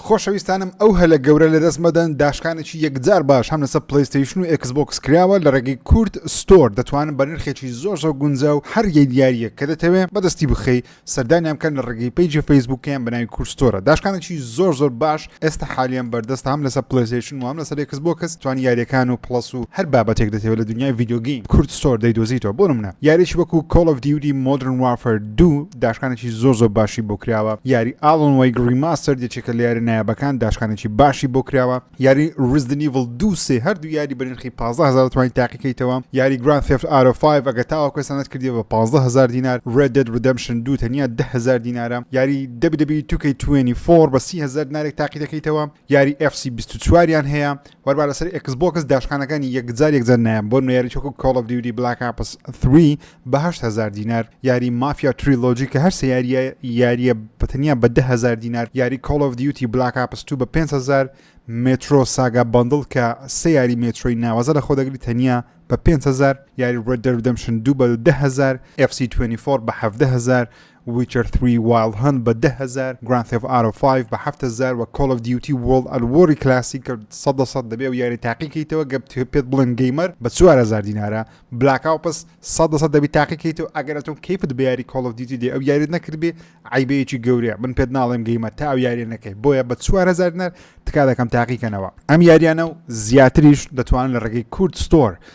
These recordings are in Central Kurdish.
خۆشەویستانم ئەو هەلە گەورە لەدەست مەدەن داشکانێکی یەکجار باش هەم لەسەر پلەیستەیشن و ئێکس بۆکس کراوە لە ڕێگەی کورد ستۆر دەتوانن بە نرخێکی زۆر زۆر گونجا و هەر یەک یاریەک کە دەتەوێ بەدەستی بخەی سەردانیان بکەن لە ڕێگەی پەیجی فەیسبوکیان بەناوی کورد ستۆرە داشکانێکی زۆر زۆر باش ئێستا حالیان بەردەستە هەم لەسەر پلەیستەیشن و هەم لەسەر ئێکس بۆکس توانی یاریەکان و پڵەس و هەر بابەتێک دەتەوێ لە دنیای ڤیدیۆ گەیم کورد ستۆر دەیدۆزیتەوە بۆ نمونە یاریەکی وەکو کۆڵ ئۆف دیوتی مۆدرن وارفەر دوو، داشکانێکی زۆر زۆر باشی بۆ کراوە یاری ئاڵن وەیگ ڕیماستەر یەکێکە لە یارە نایابەکان داشکانێکی باشی بۆ کراوە یاری ڕزدن ئیڤڵ دوو سێ هەردوو یاری بە نرخی 15000 توانی تاقیکەیتەوە یاری گران ثێفت ئارۆ 5 ئەگە تاوە کوێستانت کردی بە 15000 دینار ڕێد دێد ڕدەمشن دوو تەنیا 10000 دینارە یاری دەبی دەبی توکەی 24 بە 30000 دینارێک تاقی دەکەیتەوە یاری FC 24 یان هەیە وەربا لەسەر ئێکس بۆکس داشکانەکانی یەکجار یەکجار نایەم بۆ نوێیاری چۆکو کۆڵ ئەف دیودی بلاک ئاپس 3 بە هەشت هەزار دینار یاری مافیا تریلۆجی کە هەر سێ یاریە یاریە بە تەنیا بە دە هەزار دینار یاری کۆڵ ئەف دیوتی بلاک ئاپس 2 بە 5 هەزار مترۆ ساگا بەندڵ کە سێ یاری مێترۆی ناوازە لە خۆدەگری تەنیا بە 5هزار یاری ڕێدەردەمشن دوو بە 10هزار FC24 بە 1هزار ویچەر ثری وایڵد هەنت بە دە هەزار، گراند ثێف ئارۆ فایڤ بە حەفت هەزار و کۆڵ ئۆف دیوتی وۆڵد ئەت وۆری کلاسیک سەد لە سەد دەبێ و یاری تاقی کەیتەوە گەر پێت بڵێن گەیمەر بە چوار هەزار دینارە بلاک ئاوپس سەد لە سەد دەبی تاقی کەیتەوە ئەگەر ئەتۆ کەیفت بە یاری کۆڵ ئۆف دیوتی دێ ئەو یاریت نەکردبێ عەیبەیەکی گەورەیە من پێت ناڵێم گەیمەر تا ئەو یاریە نەکەی بۆیە بە چوار هەزار دینار تکا دەکەم تاقی کەنەوە ئەم یاریانە و زیاتریش دەتوانن لە ڕێگەی کورد ستۆر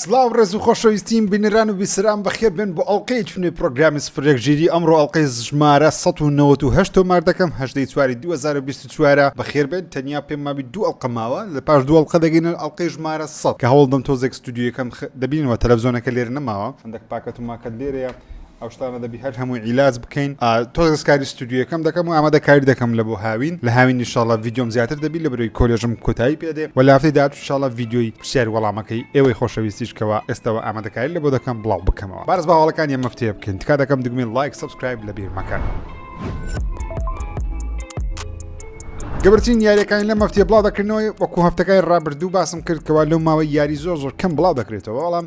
سڵاو ڕێز و خۆشەویستیم بینران و بیسران بەخێر بێن بۆ ئەڵلقەیەکی نوێ پرۆگرامی سفرێکگیری ئەمڕۆ ئەڵلقەی ژمارە 1970 تۆمار دەکەم هەشدەی چواری 2024 بەخێر بێن تەنیا پێم مابی دوو ئەڵلقە ماوە لە پاش دوو ئەڵلقە دەگەینە ئەڵلقەی ژمارە 100 کە هەوڵدەم تۆزێک ستودیویەکەم خ- دەبینەوە تەلەڤزیۆنەکە لێرە نەماوە هەندێک پاکەت و ماکەت لێرەیە ئەو شتانە دەبی هەر هەمووی عیلاج بکەین تۆز کاری ستودیوەکەم دەکەم و ئامادە کاری دەکەم لە بۆ هاوین لە هاوین نیشاڵە ویددیۆم زیاتر دەبی لە برۆی کۆلێژم کۆتایی پێدێ و لافتی داچشاڵە ویددیۆی پرسیار وەڵامەکەی ئێوەی خۆشەویستیشکەوە ئێستەوە ئامادەکاری لە بۆ دەکەم بڵاو بکەمەوە بارز باواڵەکان یە مەفتێ بکەین تکا دەکەم دگمێن لایک سبسکرایب لە بیرمەکان. گەبرتین یاریەکانی لە مەفتیە بڵاو دەکردنەوەی وەکو هەفتەکانی ڕابردوو باسم کرد کەوا لەو ماوەی یاری زۆر زۆر کەم بڵاو دەکرێتەوە بەڵام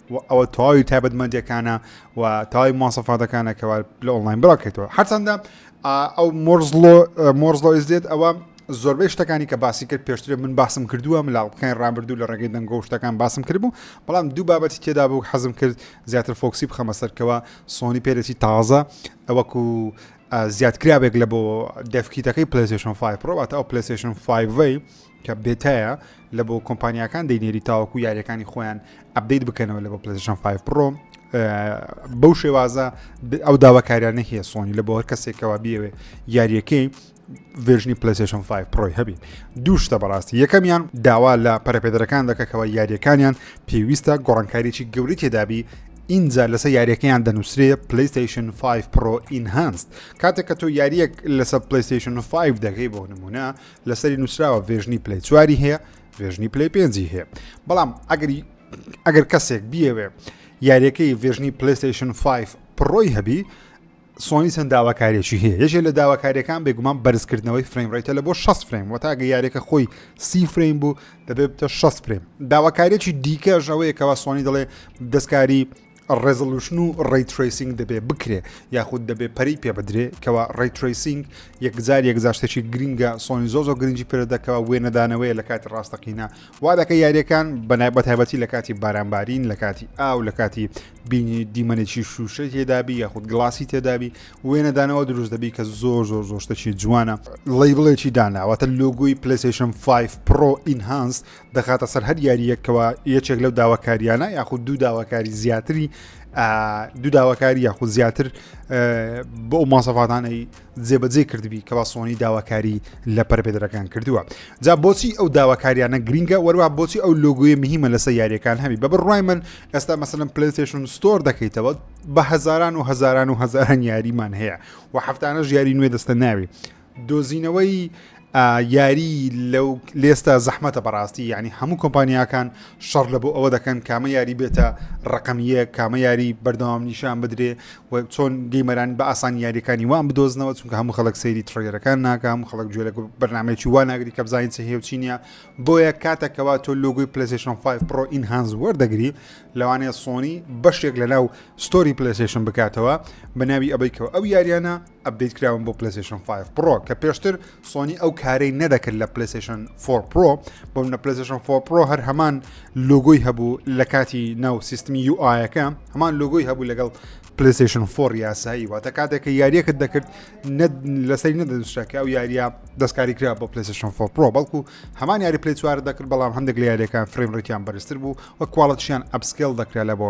و ئەوە تەواوی تایبەتمەندەکانە و تاوای ماسەفاتەکانە کەوا لە ئۆنلاین بڕاکەێتەوە هەرچەندە ئەو مۆرزلۆ مۆرزلۆیز دێت ئەوە زۆربەی شتەکانی کە باسی کرد پێشتر من باسم کردووە ملاڵقەکان ڕابردوو لە ڕێگەی دەنگۆ شتەکان باسم کرد بوو بەڵام دوو بابەتی تێدا بوو حەزم کرد زیاتر فۆکسی بخەمە سەرکەوە سۆنی پێرەی تازە ئەوەکو زیادکرابێک لە بۆ دەفکیتەکەی پلیسشن 5 پرۆواتە ئەو پلیسشن 5ی کە بێتایە لە بۆ کۆمپانیاکان دەینێری تاوەکو یاریەکانی خۆیان ئەبدەیت بکەنەوە لە بۆ پلشن 5 پرۆ بەو شێوازە ئەو داواکاریانە هەیە سۆنی لە بۆ هەر کەسێکەوە بیەوێ یاریەکەی ڤێژنی پلسیشن 5 پرۆی هەبی دوو شتە بەڕاستی یەکەمیان داوا لە پەرپێدرەکان دەکەکەەوە یاریەکانیان پێویستە گۆڕانکاریی گەوری تێدابی ئینجا لەسە یاریەکەیان دەنووسێ پلیستیشن 5 پرۆ ئینهانست کاتێک کە تۆ یاریەک لەسەر پلیستیشن 5 دەکەی بۆ نمونە لەسەری نووسراوە ڤێژنی پلەی چواری هەیە ڤێژنی پلەی پێنجی هەیە بەڵام ئەگەری ئەگەر کەسێک بیەوێ یاریەکەی ڤێژنی پلیستیشن 5 پڕۆی هەبی سۆنی چەند داواکارێکی هەیە یەکێ لە داواکاریەکان بێگومان بەرزکردنەوەی فریم ڕێتە لە بۆ 6 فریم و تاگە یاریەکە خۆی سی فریم بوو دەبێت بتە 6 فریم داواکارێکی دیکەش ئەوەیەکەوە سۆنی دەڵێ دەستکاری ڕێزۆلوشن و ڕەی ترەیسینگ دەبێ بکرێ یاخود دەبێ پەری پێ بدرێ کەوا ڕەی ترەیسینگ یەکجار یەکجار شتێکی گرینگە سۆنی زۆ زۆ گرنگی پێدەکەوە وێنەدانەوەی لە کاتی ڕاستەقینە وا دەکە یاریەکان بەنای بەتایبەتی لە کاتی بارانبارین لە کاتی ئاو لە کاتی بینی دیمەنێکی شوشە تێدابی یاخود گلاسی تێدابی وێنەدانەوە دروست دەبی کە زۆر زۆر زۆشتەکی جوانە ڵی بڵێکی داناوەتە لۆگوی پلیسیشن 5 پرۆ ئینهانس دەخاتە سەر هەر یاریەک کەەوە یەکێک لەو داواکاریانە یاخود دوو داواکاری زیاتری دوو داواکاری یاخود زیاتر بۆ ئەو ماسەفاتانەی جێبەجێ کردبی کە باسۆنی داواکاری لە پەرپێدرەکان کردووە جا بۆچی ئەو داواکاریانە گرینگە وەروە بۆچی ئەو لۆگوی مهمە لەسە یاریەکان هەبی بە بڕای من ئێستا مەسەن پلیتشن ستۆر دەکەیتەوە بە هەزاران و هەزاران و هەزاران یاریمان هەیە و هەفتانە ژیاری نوێ دەستە ناوی دۆزینەوەی یاری لەو لێستە زەحمەتە بەڕاستی ینی هەموو کۆمپانیاکان شەڕ لە بۆ ئەوە دەکەن کامە یاری بێتە ڕقمیە کامە یاری بەردەوام نیشان بدرێ و چۆن گەیمەران بە ئاسان یاریەکانی وان بدۆزنەوە چونکە هەموو خەڵک سەیری تڕێرەکان ناکە هەموو خەڵک گوێ لە بەرنمەیەکی وا ناگری کە بزانین چ هێوچینە بۆیە کاتەکەوا تۆ لۆگوی پلسیشن 5 پرۆ ئین هانز وەردەگری لەوانەیە سۆنی بەشێک لە ناو ستۆری پلسیشن بکاتەوە بە ناوی ئەبیکەوە ئەو یاریانە ئەپدەیت کراون بۆ پلەسشن 5 پرۆ کە پێشتر سۆنی ئەو کارەی نەدەکرد لە پلسشن 4 پرۆ بۆم لە پلسشن 4 پرۆ هەر هەمان لۆگۆی هەبوو لە کاتی ناو سیستمی یو ئاەکە هەمان لۆگۆی هەبوو لەگەڵ پلسشن 4 یاسایی واتە کاتێکە یاریەکەت دەکرد لەسەری نەدەنووسراکە ئەو یاریە دەستکاری کرا بۆ پلسشن 4 پرۆ بەڵکو هەمان یاری پلی چوار دەکرد بەڵام هەندێک لە یاریەکان فریم ڕێکیان بەرزتر بوو وە کوواڵەتشیان ئەپسکل دەکرا لە بۆ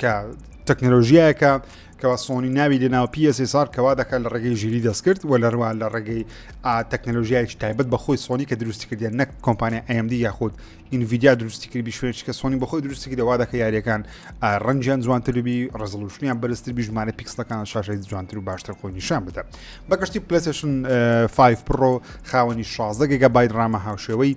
کە تەکنەلۆژیایەکە کەوا سۆنی ناوی لەناو پیسار کەوا دەکات لە ڕێگەی ژیری دەستکرد و لەروە لە ڕێگەی تەکنەلۆژیایش تایبەت بە خۆی سۆنی کە دروستی کردیان نەک کۆمپانیا ئەمدی یاخود ئینڤیدیا دروستی کرد بیشێن چکە سۆنی بەخۆی دروستی کردەوە دەکە یاریەکان ڕەنجیان جوانتربی ڕزلوشنیان بەرزتر بیژمانە پیکسلەکان شاشی جوانتر و باشتر خۆی نیشان بدە بەگشتی پلسشن 5 پرۆ خاوەنی 16 گەگە بای ڕامە هاوشێوەی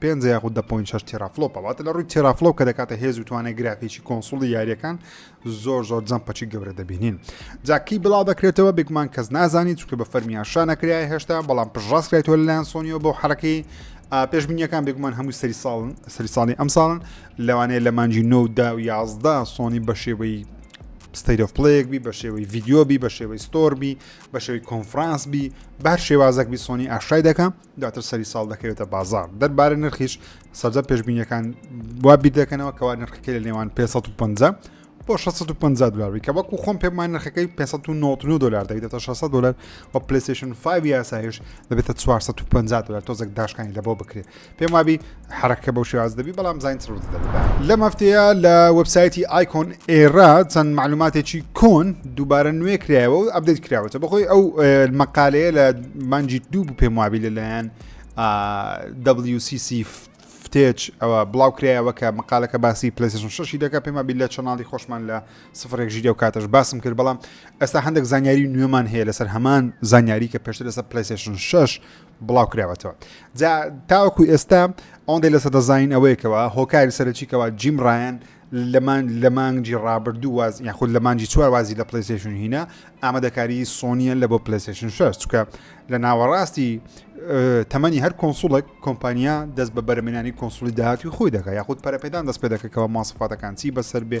پێنجە یاخود دە پۆینت شەش تێرافلۆپە واتە لە ڕووی تێرافلۆپ کە دەکاتە هێز و توانای گرافیکی کۆنسوڵی یاریەکان زۆر زۆر جەمپەچی گەورە دەبینین جاکی بڵاو دەکرێتەوە بێگومان کەس نازانی چونکە بە فەرمیان شانەکرای هێشتا بەڵام پشڕاستکرێتەوە لەلایەن سۆنیەوە بۆ حرەکەی پێشبینیەکان بێگومان هەموو سەری ساڵن سەری ساڵی ئەم ساڵن لەوانەیە لە مانجی نۆ دا و یازدە سۆنی بە شێوەی ستەیرۆف پلەیەک بی بە شێوەی ڤیددیۆبی بە شێوەی ستۆربی بە شێوەی کۆنفرانس بی بار شێوازەک بی سۆنی ئاشای دەکەم دواتر سەری ساڵ دەکەوێتە بازار دەربارە نرخیش سەرجە پێشببینیەکان وا بیر دەکەنەوە کەوا نرخەکەی لە نێوان 550 بۆ 650 دلاری کە وەکو خۆم پێمان نرخەکەی 599 دلار دەبێتە 600 دلار و پلیسیشن 5 یاسایش دەبێتە 450 دلار تۆزێک داشکانی لەبەوە بکرێت پێم وابی حەرەکە بەو شێوازە دەبی بەڵام زانین چڕ بتدە بدا لەم هەفتەیە لە وەبسایتی ئایکۆن ئێرا چەند معلوماتێکی کۆن دووبارە نوێ کرایەوە و ئەبدەیت کراوەتە بەخۆی ئەو مەقالەیە لە مانجی دوو بوو پێم وابی لەلایەن WCC فتێچ ئەوە بڵاو کرایەوە کە مقالەکە باسی پلیسشن شەشی دەکە پێما بی لە چەناڵی خۆشمان لە سفرێک ژیدە و کاتەش باسم کرد بەڵام ئێستا هەندێک زانیاری نوێمان هەیە لەسەر هەمان زانیاری کە پێشتر لەسەر پلیسشن شش بڵاو کراوەتەوە جا تاوەکو ئێستا ئەوەندەی لە سەدە زانین ئەوەیەکەوە هۆکاری سەرەکیکەوە جیم ڕایەن لەمان لە مانگی ڕابردوو واز یاخود لە مانگی چوار وازی لە پلیسشن هینە ئامادەکاری سۆنیە لە بۆ پلیسشن شش چکە لە ناوەڕاستی تەمەنی هەر کۆنسوڵێک کۆمپانیا دەست بە بەرەمێنانی کۆنسولی داهاتوی خۆی دەکە یاخود پەرەپێدان دەست پێ دەکەکەەوە ماسفاتەکان چی بەسەر بێ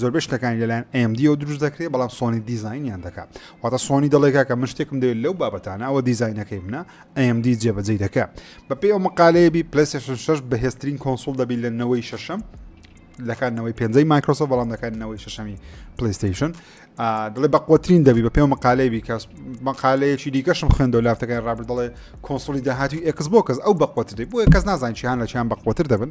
زۆربەی شتەکانی لەلایەن AMD و دروست دەکرێت بەڵام سۆنی دیزینیان دەکات واتە سۆنی دەڵێ کاکە من شتێکم دەوێت لەو بابەتانە ئەوە دیزینەکەی منە AMD جێبەجێی دەکە بەپێی ئەو مقالەیە بی پلیسشن 6 بەهێزترین کۆنسول دەبی لە نەوەی شەشەم لەکاتنەوەی پێنجەی مایکرۆسۆ بەڵام دەکاتنەوەی شەشەمی پلیستیشن دڵێ بە قوترین دەبی بە پێم مقالەی بیکەس مقالەیەکی دیکەشم خوێندەوە لافتەکەی ڕابر دەڵێ کۆنسولی داهاتی ئەکس بۆ کەس ئەو بەقوتری بۆیە کەس نازان چیان لە چیان بەقوتر دەبن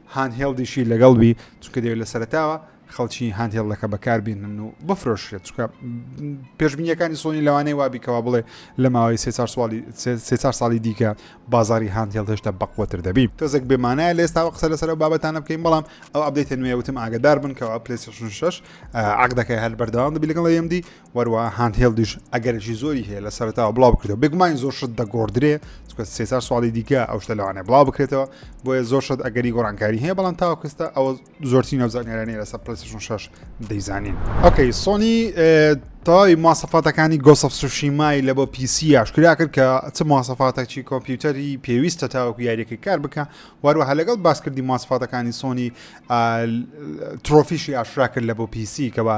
هاندهێڵدیشی لەگەڵ بی چونکە دەوێت لە سەرتاوە خەڵکی هاندهێڵدەکە بەکاربیێنن و بفرۆشێت چکە پێشبینیەکانی سۆنی لەوانەیە وابیکەوە بڵێ لە ماوەی سێ چار ساڵی دیکە بازاری هاندهێڵ هێشتا بەقوتر دەبی تۆزێک بێمانایە لە ئێستاوە قسە لەسەر بابەتانە بکەین بەڵام ئەو ئەبدەیتە نوێ وتم ئاگدار بن کەەوە پلیشن شش عقدەکە هەر بەردەوام دەبی لەگەڵ ئەمدی وەروەها هاند هێڵدیش ئەگەرێکی زۆری هەیە لە سەرتاوە بڵاو بکرێتەوە بێگومانی زۆر شت دەگۆڕدرێ چکە سێ چار سواڵی دیکە ئەو شتە لەوانێ بڵاو بکرێتەوە بۆیە زۆر شت ئەگەری گۆڕانکاری هەیە بەڵام تاوکەستە ئەوە زۆرتی نەوزانیارانی لەسەر پلسشن شش دەیزانین ئۆکەی سۆنی تەواوی ماسەفاتەکانی گۆسەف سوشیمای لە بۆ پیسی یاشکرا کرد کە چ ماسەفاتەکی کۆمپیوتەری پێویستە تاوەکو یاریەکەی کار بکە وەروەها لەگەڵ باسکردی ماسفاتەکانی سۆنی ترۆفیشی ئاشرا کرد لە بۆ پیسی کەەوە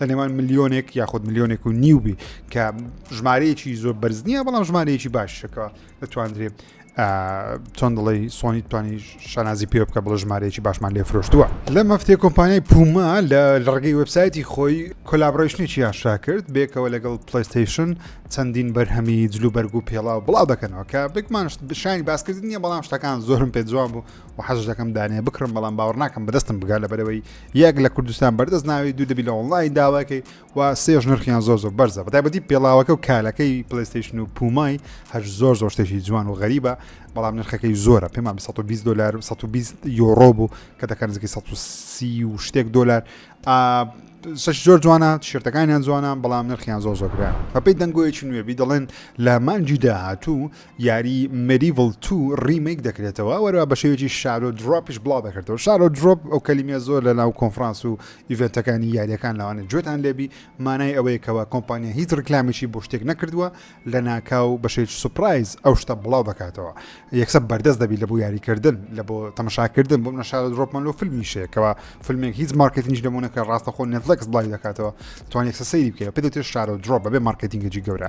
لە نێوان ملیۆنێک یاخود ملیۆنێک و نیو بی کە ژمارەیەکی زۆر بەرز نییە بەڵام ژمارەیەکی باشەکە دەتواندرێت چۆن دڵی سۆنی توانی شانازی پێ بکە بڵە ژمارەیەکی باشمان لێ فرۆشتووە لە مەفتێ کۆمپانیای پوما لە ڕگەی وبسایەتی خۆی کۆلابڕشتێکی یاشا کرد بێکەوە لەگەڵ پلیستیشن چەندین بەرهەمی جلو بەرگ و پێڵاو بڵاو دەکەنەوە کە بێکمانشت بشانی باسکردنیە بەڵام شتەکان زۆرم پێ جوان بوو و حەزش دەکەم دانێ بکڕم بەڵام باوەڕ ناکەم بەدەستم بگا لە بەرەوەی یەک لە کوردستان بەردەست ناوی دوو دەبی لە ئۆنلاین داواکەی و سێش نرخیان زۆر زۆر بەرزە بەتایبەتی پێڵاوەکە و کالەکەی پلیستیشن و پومای هەر زۆر زۆر شتێکی جوان و غەریبە بەڵام نرخەکەی زۆرە پێمان 120 دلار 120 یۆڕۆ بوو کە دەکەن زگی 130 و شتێک دلار سش زۆر جوانە شێتەکانیان جوانە بەڵام نرخیان زۆر زۆگران بەپی دەنگۆیەکی نوێبی دەڵێن لە مانجی داهاتوو یاری Medieval ii ڕیمەیک دەکرێتەوە وەروا بەشێوەیەکی شارۆ درۆپیش بڵاو دەکردەوە شارۆ درۆپ ئەو کەلیمە زۆر لە ناو کۆنفرانس و ئیڤێنتەکانی یاریەکان لەوانە جوێتان لێبی مانای ئەوەیە کەوا کۆمپانیا هیچ ڕکلامێکی بۆ شتێک نەکردووە لە ناکاو بەشێک سوپرایز ئەو شتە بڵاو دەکاتەوە یەکسە بەردەست دەبی لە بۆ یاریکردن لە بۆ تەمەشاکردن بۆ منە شارۆ درۆپمان لۆ فیلمیشەیەکەوە فیلمێک هیچ مارکتنیش لەمونە کە ڕاستە خۆ نێتلەکس بڵاوی دەکاتەوە توان یەکسە سەیری بکەوە پێ دەوتێت شارۆ درۆپ بەبێ مارکتینگەجی گەورە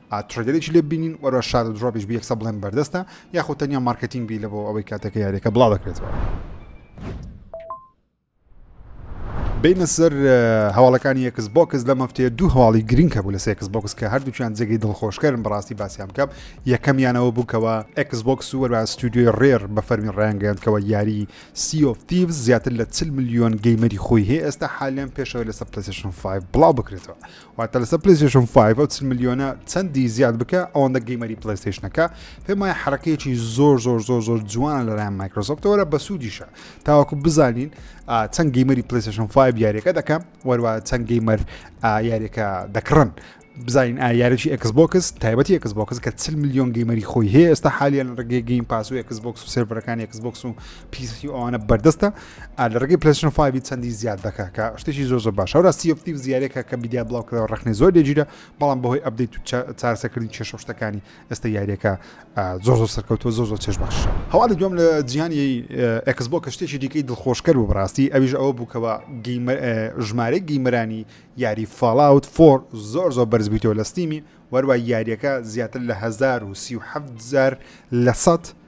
ترێدەرێکی لێ بینین وەرە شادە درۆپیش بە یەکسە بڵێن بەردەستە یاخود تەنیا مارکتینگ بی لە بۆ ئەوەی کاتەکە یاریەکە بڵا دەکرێتەوە. بینە سەر هەواڵەکانی یەکس بۆکس لە مەفتەیە دوو هەواڵی گرنگ هەبوو لە سێکس بۆکس کە هەردووچیان جێگەی دڵخۆشکردن بەڕاستی باسییان بکەم یەکەمیانەوە بووکەوە ئەکس بۆکس و وەرا ستودیۆی ڕێر بە فەرمی ڕایانگەیاندکەوە یاری سیۆفتیف زیاتر لە چل میلیۆن گەیمەری خۆی هەیە ئێستا حالیان پێشەوە لەسەر پلسشن 5 بڵاو بکرێتەوە واتە لەسەر پلەیستەیشن 5 ئەو چل ملیۆنە چەندی زیاد بکە ئەوەندە گەیمەری پلەیستەیشنەکە پێم وایە حرەکەیەکی زۆر زۆر زۆر زۆر جوانە لەلایەن مایکرۆسۆفتەوەرە بە سوودیشە تاوەکو بزانین چەند گەیمەری پلەیستەیشن 5 یاریەکە دەکەم وەروە چەند گەیمەر یاریەکە دەکڕن بزانین یاریی ئەکس بۆکس تایبەتی ئەکس بۆکس کە چل میلیۆن گەیمەری خۆی هەیە ئێستا حالیان ڕگەی گەیم پاس و ئەکس بۆکس و سێربەرەکانی ئەکس بۆکس و پیسی ئەوانە بەردەستە لە ڕگەی پلسن 5 چەندی زیاد دەکە کە شتێکی زۆر زۆر باش هەورا سیفتی و زیارێکە کە بیدیا بڵاوکەوە ڕخنی زۆر لێگیرە بەڵام بەهۆی ئەبدەیت و چارەسەکردنی کێشە شتەکانی ئێستا یاریەکە زۆر زۆر سەرکەوتوە زۆر زۆر چێش بەخش هەواڵ دوم لە جیانی ئەکس بۆ کە شتێکی دیکەی دڵخۆشکەر و بڕاستی ئەویش ئەوە بووکەوە ژمارە گیمەرانی یاری فاڵاوت فۆر زۆر زۆر بەرزبییتەوە لە ستیمی وەروای یاریەکە زیاتر لە 1970 لە سە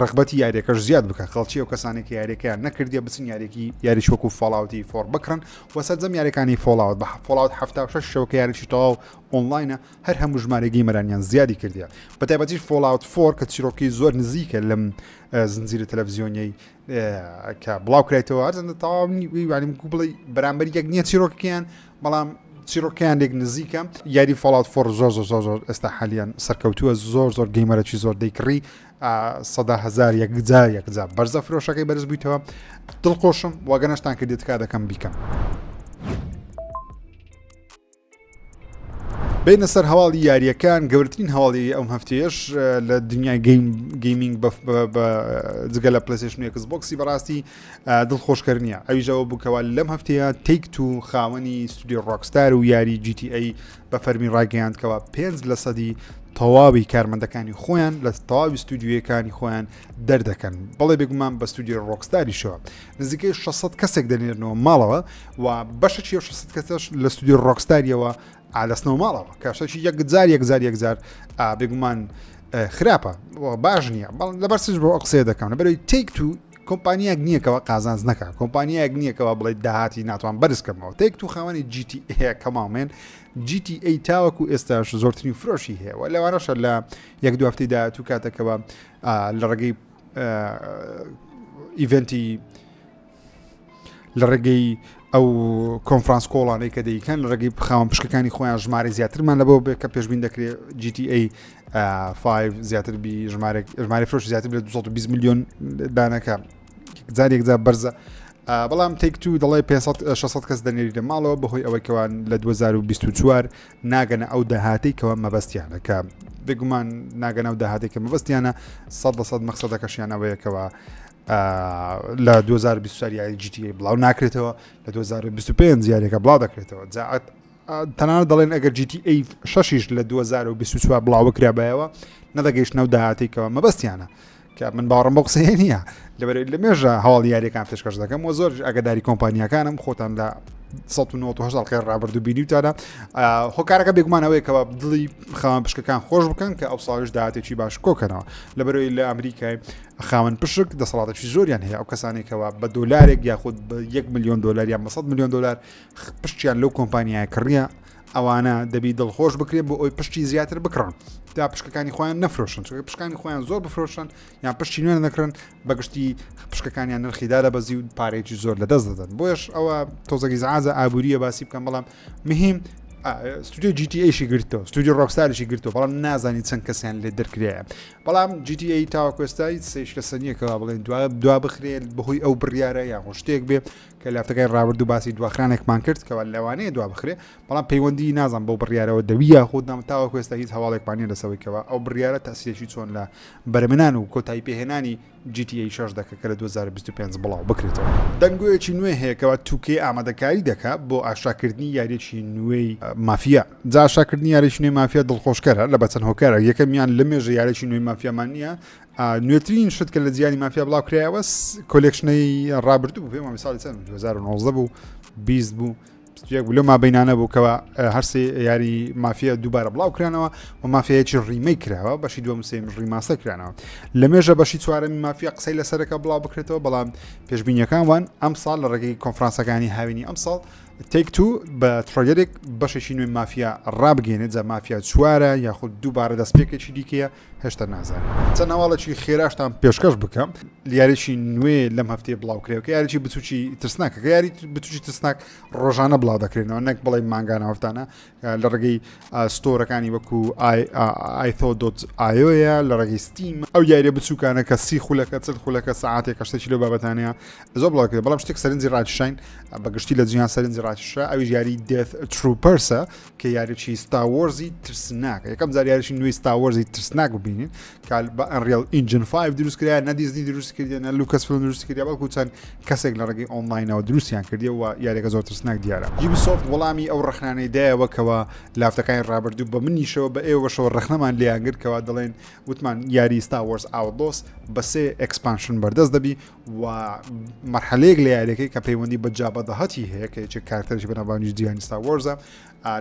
ڕەغبەتی یاریەکەش زیاد بکە خەڵکی و کەسانی کە یاریەکەیان نەکردیە بچن یاریکی یاریش وەکو فاڵاوتی فۆر بکڕن و سەرجەم یاریەکانی فۆڵاوت بە فڵاوت هەفتا و شش شەوکە یاریی تەواو ئۆنلاینە هەر هەموو ژمارەگەی مەرانیان زیادی کردیە بە تایبەتیش فۆڵاوت فۆر کە چیرۆکی زۆر نزیکە لەم زنجیرە تەلەڤزیۆنیەی کە بڵاو کرێتەوە هەرزەندە تەواونی ویوانیم کو بڵی بەرامبەر یەک نییە چیرۆکیان بەڵام چیرۆکیان لێک نزیکە یاری فڵات فۆر زۆر زۆر زۆر زۆر ئێستا حالیان سەرکەوتووە زۆر زۆر گەیمەرەی زۆر دەیکڕی سەدا هزار یەکجار یەکجار بەرزە فرۆشەکەی بەرز بوویتەوە دڵخۆشم واگەنەشتان کە دێتکا دەکەم بیکەم. بینە سەر هەواڵی یاریەکان گەورترین هەواڵی ئەم هەفتێش لە دنیای گەیمنگ جگە لە پلسیشنێکس بۆکسی بەڕاستی دڵخۆشکەر نییە ئەویژەوە بکەوە لەم هەفتەیە تێک تو خاوەنی سودی ڕۆکستار و یاری GTA بە فەرمی ڕایگەیاند کەوا پێنج لە سەدی تەواوی کارمەندەکانی خۆیان لە تەواوی ستودیویەکانی خۆیان دەردەکەن بەڵێ بێگومان بە ستودیو ڕۆکستاریشەوە نزیکەی 600 کەسێک دەنێرنەوە ماڵەوە و بەشە 600 کەسش لە ستودیو ڕۆکستاریەوە ئالەسنەوە ماڵەوە کاشەکی یەکجار یەکجار یەکجار بێگومان خراپە باش نییە بەڵ لەبەر سش بۆ قسێ دەکەم لەبەرەوەی تێک تو کۆمپانیایەک نییە کەوا قازانج نەکات کۆمپانیایەک نییە کەوا بڵێ داهاتی ناتوان بەرز کەمەوە تێک تو خاوەنی GTA کەماڵمێن GTA تاوەکو ئێستاش زۆرترین فرۆشی هەیە و لەوانەشە لە یەک دو هەفتەی داهاتوو کاتەکەەوە لە ڕێگەی ئیڤنتی لە ڕێگەی ئەو کۆنفرانس کۆڵانەی کە دەیکەن لە ڕێگەی خاوەن پشکەکانی خۆیان ژمارە زیاترمان لەبەوە بێت کە پێشبین دەکرێت GTA 5 زیاتر بی ژمارێک ژمارە فرۆش زیاتر لە 220 میلیۆن دانەکە جارێک جا بەرزە بەڵام تێک تو دەڵی 600 کەس دەنێری لە ماڵەوە بەهۆی ئەوەی کەوان لە 2024 ناگەنە ئەو داهاتی کەەوە مەبەستیانەکە بگومان ناگەنە و داهاتێکە مەبەستیانە 100 مەخصدەکەشیان ئەوەیەکەوە لە دوو هەزار و بیست و چوار یاری جی تی ئەی بڵاو ناکرێتەوە لە دوو هەزار و بیست و پێنج یاریەکە بڵاو دەکرێتەوە جا تەنانەت دەڵێن ئەگەر جی تی ئەی شەشیش لە دوو هەزار و بیست و چوار بڵاو بکرابایەوە نەدەگەیشتنە و داهاتێکەوە مەبەستیانە کە من باوەڕم بۆ قسەیە نییە لەبەر لە مێژە هەواڵ یاریەکان پێشکەش دەکەم و زۆر ئەگەداری کۆمپانیەکانم خۆتان لە 1970 خێر ڕابردوو بینیوتانە هۆکارەکە بێگومانەوەیکەوە دڵی خاوان پشکەکان خۆش بکەن کە ئەو ساڵش دااتێکی باش کۆکەنەوە لە بەرەوەی لە ئەمریکای خاوەن پشک دەسەڵاتێکی زۆریان هەیە ئەو کەسانی کەوا بە دۆلارێک یاخود بە یەک میلیۆن دلار یان 100 میلیۆن دلار پشتیان لەو کۆمپانیای کڕە ئەوانە دەبی دڵخۆش بکرێت بۆ ئەوی پشتی زیاتر بکڕن تا پشکەکانی خۆیان نەفرۆشن چ پشکانی خۆیان زۆر بفرۆشن یان پشتی نوێن دەکرن بەگشتی پشکەکانیان نرخیدا لە بەزی و پارێکی زۆر لە دەست دەدەن بۆش ئەوە تۆزەگی زعازە ئابووریە باسی بکەم بەڵام مهم ستودیو جیTAشی گرتەوە ستودیو ڕۆکساریشی گرتەوە بەڵام نازانی چەند کەسیان لێ دەرکرایە بەڵام جی تی ئەی تاوەکو ئێستا هیچ سەیرش لەسەر نییە کەوا بڵێن دوا دوا بخرێ بەهۆی ئەو بڕیارە یاخۆ شتێک بێ کە لەهەفتەکانی ڕابردوو باسی دواخرانێکمان کرد کەوا لەوانەیە دوا بخرێ بەڵام پەیوەندی نازانم بەو بڕیارەوە دەوی یاخود نام تاوەکو ئێستا هیچ هەواڵێکمان نییە لەسەوەی کەوا ئەو بڕیارە تەسیرێکی چۆن لە بەرمنان و کۆتایی پێهێنانی جی تی ئەی شەش دەکە کە لە دوو هەزار و بیست و پێنج بڵاو بکرێتەوە. دەنگۆیەکی نوێ هەیە کەوا تو کەی ئامادەکاری دەکا بۆ ئاشاکردنی یاریەکی نوێی مافیا جا ئاشاکردنی یاریەکی نوێی مافیا دڵخۆشکەرە لە بەچەند هۆکارەک یەکەمیان لەمێژە یاریەکی نوێی مافیامان نییە نوێترین شت کە لە جیانی مافیا بڵاو کرایەوە کۆلێکشنەی ڕابردوو پێم ساڵی چەند 2019 بوو 20 بوو جێک بلو مابینانە بوو کەەوە هەرسی یاری مافیا دووبارە بڵاو کرانەوە و مافەیەکی ڕیمەی کراوە بەشی دوم سێم ڕیماسە کرانەوە لە مێژە بەشی چوارەمی مافیا قسەی لەسەرەکە بڵاو بکرێتەوە بەڵام پێشببینیەکان وان ئەم ساڵ لە ڕێگەی کۆنفرانسەکانی هاوینی ئەم ساڵ تێک تو بە تڕۆگەرێک بەشێکی نوێ مافیا ڕابگەێنێت جە مافیا چوارە یاخود دووبارە دەستپێکێکی دیکەیە هێشتا نازانم چەند هەواڵێکی خێراشتان پێشکەش بکەم یاریی نوێ لەم هەفتەیە بڵاوکرێەوە یاریی بچوکی ترسناک یاری بچوکی ترسناک ڕۆژانە بڵاو دەکرێنەوە نەک بڵێ ماگانە هەفتانە لە ڕگەی ستۆرەکانی وەکو ئایتۆ دۆت ئاۆە لە ڕگەی ستیم ئەو یاریە بچووکانە کە سی خولەکە چل خولەکە ساعتێک کەشتێکی لە بابەتانەیە زۆر بڵاوکرێ بەڵام شتێک سەرنجی ڕاکیشین بەگشتی لە جیان سەرنجی ڕاکیشە ئەوی یاری دێت تروپەرسە کە یاریچی ستاوەرزی ترسناک یەکەم جار یاریشی نوێی ستاوەرزی ترسناک ببینین کال بە ئەنریل ئینجن 5 دروست کرا نە دیزنی دروست کردێنە لوکەس فلم دروست کرد بەڵکو چەند کەسێک لە ڕێگەی ئۆنلاینەوە دروستیان کردیەوە یاریەکە زۆر ترسناک دیارە یبی سوفت وەڵامی ئەو ڕخنانەی دایەوە کەەوە لافتەکانی ڕابردوو بە منیشەوە بە ئێوەشەوە ڕخنەمان لیانگرکەوە دەڵێن وتمان یاری ستاوەرز ئاودۆس بەسێ ئەکسپانشن بەردەست دەبی و مەرحەلەیەک لە یاریەکەی کە پەیوەندی بە جابەدەهەتی هەیە کە یەکێک کارتەرش بەناوانیش جیانی ستاوەرزە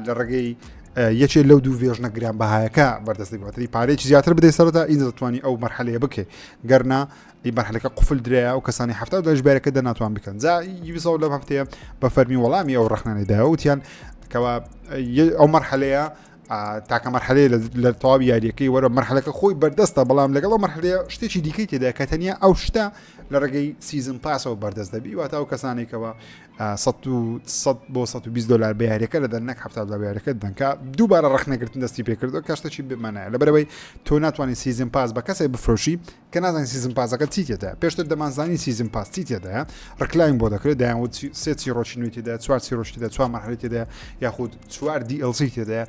لە ڕێگەی یەکێ لەو دوو وێژنە گران بەهایەکە بەردەستی باتری پارێکی زیاتر بدەی سەردا ئین دەتوانانی ئەو مەرحەلەیە بکەێت گەرنا ئی بەرحەکە قفل درێە و کەسانی هەفتا دەش بارەکە دە ناتوان بکەن جا یوسەوە لەم هەفتەیە بە فەرمی وەڵامی ئەو ڕخنانێدایە وتیان کەوا ئەو مەرحەلەیە تاکە مەرحەلەیە لە تەواوی یاریەکەی وەرە مەرحەلەکە خۆی بەردەستە بەڵام لەگەڵ مەرحلەیە شتێکی دیکەی تێدا کە تەنیا ئەو شتە لە ڕێگەی سیزم پاسەوە بەردەست دەبی واتا و کەسانێکەوە 100 بۆ 120 دلار بە یاریەکە لە دەنەک هەفتا لە یاریەکە دەنکە دووبارە ڕخنەگرتن دەستی پێکردو کەشتەی بمانە لە بەرەوەی تۆ ناتوانانی سیزم پاس بە کەسێک بفرۆشی کە نازانین سیزن پاسەکە چی تێدایە پێشتر دەمانزانی سیزن پاس چی تێدایە ڕکلاین بۆ دەکرێت دایانوت سێ چیرۆکی نوێی تێدا چوار چیرۆکی دا چوار مەحلی تێدا یاخود چوار دیLسی تێدا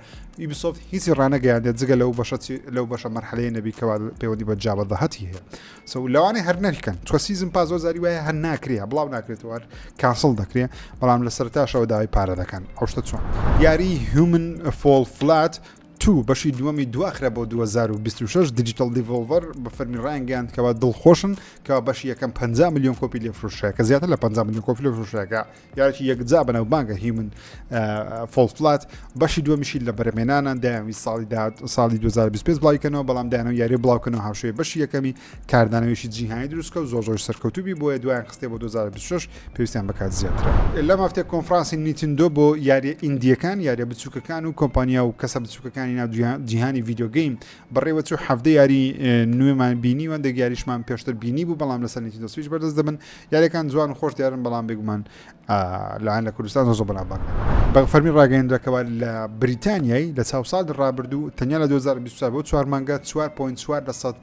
یبسۆفت هیچی ڕانەگەیاندێ جگە لەو بەشە لەو بەشە مەرحەلەیە نەبی کەوا پەیوەندی بە جابە دەهەتی هەیە سە لەوانێ هەر نەریکەن چوە سیزم پاس زۆر زاری وایە هەر ناکرێ بڵاو ناکرێتەوە کاسڵ دەکرێ بەڵام لە سەرتاشەوە داوای پارە دەکەن ئەوشتە چۆن یاری هومن فۆڵ فلات توو، بەشی دووەمی دواخرا بۆ دوو هەزار و بیست و شەش، دیجیتەڵ دیڤۆڵڤەر بە فەرمی ڕایانگەیاند کەوا دڵخۆشن کەوا بەشی یەکەم پەنجا ملیۆن کۆپی لێفرۆشرا کە زیاتر لە پەنجا ملیۆن کۆپی لێفرۆشرا کە یارێکی یەکجا بەناوبانگە هیومن فۆڵ فلات بەشی دووەمیشی لە بەرەمێنانە دەیانویست ساڵی داهات ساڵی دوو هەزار و بیست و پێنج بڵاویکەنەوە بەڵام دەیانەوە یاری بڵاوکەنەوە هاوشێوەی بەشی یەکەمی کاردانەوەیەکی جیهانی دروست بکە و زۆر زۆریش سەرکەوتوو بی، بۆیە دوایان خستیە بۆ دوو هەزار و بیست و شەش، پێویستیان بە کات زیاترە. لەم هەفتەیە کۆنفرانسی نیتندۆ بۆ یارییە ئیندییەکان، یارییە بچووکەکان و کۆمپانیا و کەسە بچووکەکانی ناو جیهانی ڤیدیۆ گەیم بەڕێوە چوو، حەڤدە یاری نوێمان بینی و هەندێک یاریشمان پێشتر بینیبوو بەڵام لەسەر نیتندۆ سویچ بەردەست دەبن، یارییەکان جوان و خۆش دیارن بەڵام بێگومان لایان لە کوردستان زۆر زۆر بەناوبانگ نەبوون. بە فەرمی ڕاگەیەندراکەوە لە بریتانیای لە چاو ساڵی ڕابردوو تەنیا لە دوو هەزار و بیست و چوار بۆ چوار مانگە چوار پۆینت چوار لەسەد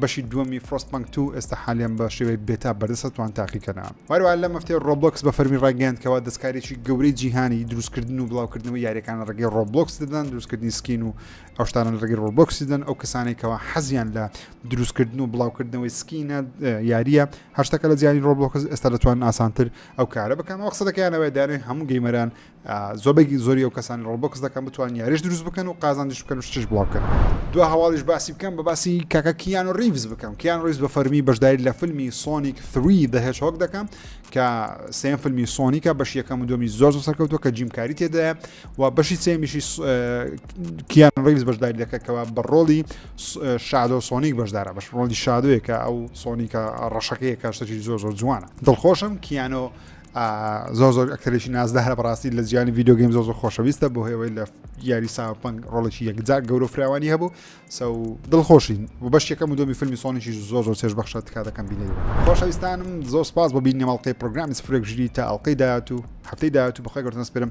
بەشی دووەمی Frostpunk دوو ئێستا حالیان بە شێوەی بێتا بەردەستە توان تاقیکەنە. هەروەها لەم هەفتەیە Roblox بە فەرمی ڕایگەیاند کەوا دەستکاریی گەورەی جیهانی دروستکردن و بڵاوکردنەوەی یاریەکان لە ڕێگەی Roblox دەدەن دروستکردنی سکین و ئەو شتانە لە ڕێگەی Roblox دەدەن ئەو کەسانەی کەوا حەزیان لە دروستکردن و بڵاوکردنەوەی سکینە یاریە هەر شتەکە لە جیهانی Roblox ئێستا دەتوان ئاسانتر ئەو کارە بکەن وە قسە دەکەیانەوەی دانێ هەموو گەیمەران زۆربەی زۆری ئەو کەسانی ڕۆڵبۆکس دەکەن بتوان یاریش دروست بکەن و قازانجیش بکەن و شتش بڵاو بکەن دو هەواڵیش باسی بکەم بە باسی کاکە کیان و ڕیڤز بکەم کیان ڕیز بە فەرمی بەشداری لە فیلمی سۆنیک 3 دەهێش هۆک دەکەم کە سێم فیلمی سۆنیکە بەش یەکەم و دومی زۆر سەرکەوتوە کە جیمکاری تێدایە و بەشی سێمیشی کیان ڕیز بەشداری دەکەکەوە بە ڕۆڵی شادۆ سۆنیک بەشدارە بەش ڕۆڵی شادوەیە کە ئەو سۆنیکە ڕەشەکەیە کاشتەکی زۆر زۆر جوانە دڵخۆشم کیانۆ زۆر زۆر ئەکتەرێکی نازدارە بەڕاستی لە جیانی ڤیددیو گەیم زۆر زۆر خۆشەویستە بۆ هێوەی لە یاری ساپنگ ڕۆڵێکی یەکجار گەورە فراوانی هەبوو سە دڵخۆشین و بەش یەکەم و دۆمی فیلمی سۆنیشی زۆر زۆر چێش بەخشە تکا دەکەم بینەری خۆشەویستانم زۆر سپاس بۆ بینی مەڵقی پرۆگرامی سفرێک ژری تا ئەڵلقەی داات و هەفتەی داات و بەخوای گەورتنەسپێرم